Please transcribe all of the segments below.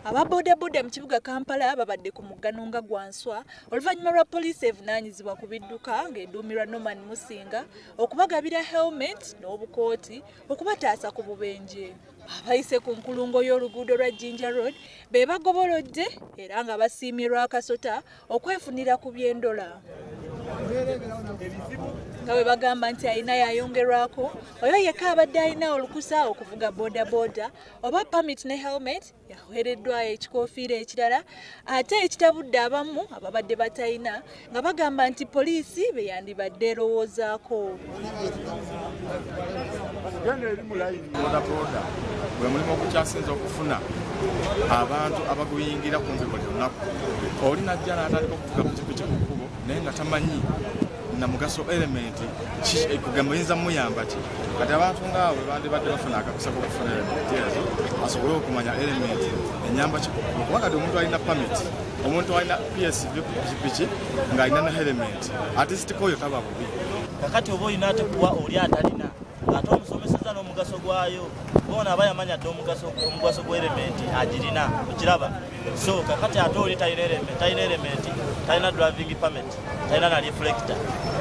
aba bodaboda mu kibuga kampala babadde ku muggano nga gwanswa oluvannyuma lwa poliisi evunaanyizibwa ku bidduka ng'eduumirwa norman musinga okubagabira helmet n'obukooti okubataasa ku bubenje abayise ku nkulungo y'oluguudo lwa jinja road be bagobolodde era nga basiimye lwakasota okwefunira ku byendola nga bwe bagamba nti alina yayongerwako oyo yekka abadde alina olukusa okuvuga bodaboda oba pamit ne helmet yaweereddwayo ekikofiira ekirala ate ekitabudde abamu ababadde batalina nga bagamba nti poliisi beyandibadde erowoozaako genda eri mu layini bodaboda gwe mulimu ogukyasinza okufuna abantu abaguyingira kumpi buli lunaku oli najja naatandika okuvuga pikipiki ku kkubo naye nga tamanyi na mugaso elementi kugamba oyinza muyamba ki kati abantu ngaawe bandibadde bafuna akakusa kokufuna elementi ezo asobole okumanya elementi enyamba ki kuba kati omuntu alina pamiti omuntu alina psv ku pikipiki ng'alina na elementi atisitikoyo tababo kakati oba olina ate kuwa oli atalina ate omusomeseza n'omugaso gwayo bona aba yamanya dde omugaso gw'erementi agirina okiraba so kakati ate oli talina erementi talina driving permit talina na reflector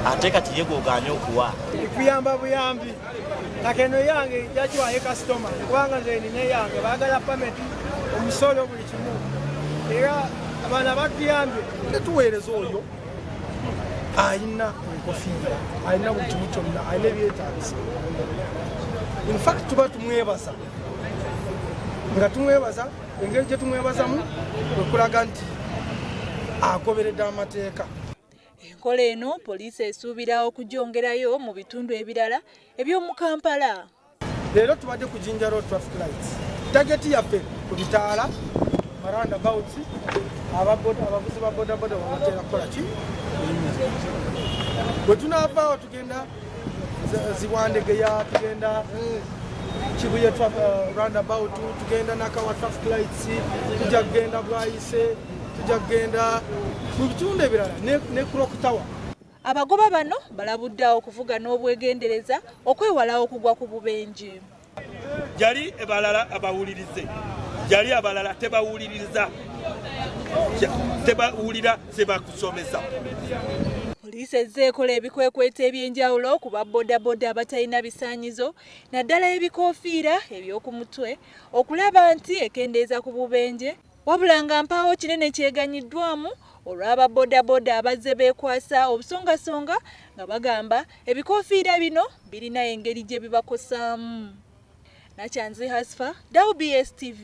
ate kati ye gwoganye okuwa kuyamba buyambi kakeno yange yakiwaye kasitoma kubanga nze nina yange bagala permit omusolo buli kimu era abaana batuyambye netuweereza oyo alina enkofiira alina buli kimu kyonna alina ebyetaagisa infact tuba tumwebaza nga tumwebaza engeri gye tumwebazamu okulaga nti agoberedde amateeka enkola eno poliisi esuubira okugyongerayo mu bitundu ebirala eby'omu kampala leero tubadde ku jinja road traffic lights tageti yaffe ku bitaala maranda bouts abavuzi ba bodaboda wabateera kukola ki bwe tunaavaawo tugenda zibwandegeya tugenda kibuye uh, roundabout tugenda nakawa traffic lights tujja kugenda bwayise tujja kugenda mu bitundu ebirala ne crock tower Abagoba bano balabudde awo okuvuga n'obwegendereza okwewala okugwa ku bubenje. Jali ebalala abawulirize jali abalala tebawuliriza tebawulira sebakusomesa poliisi ezze ekola ebikwekweto eby'enjawulo ku ba bodaboda abatalina bisaanyizo naddala ebikoofiira eby'oku mutwe okulaba nti ekendeeza ku bubenje Wabula nga mpaawo kinene kyeganyiddwamu olw'aba bodaboda abazze beekwasa obusongasonga nga bagamba ebikofiira bino birina engeri gye bibakosaamu. Nakyanzi Hasfa, WBS TV.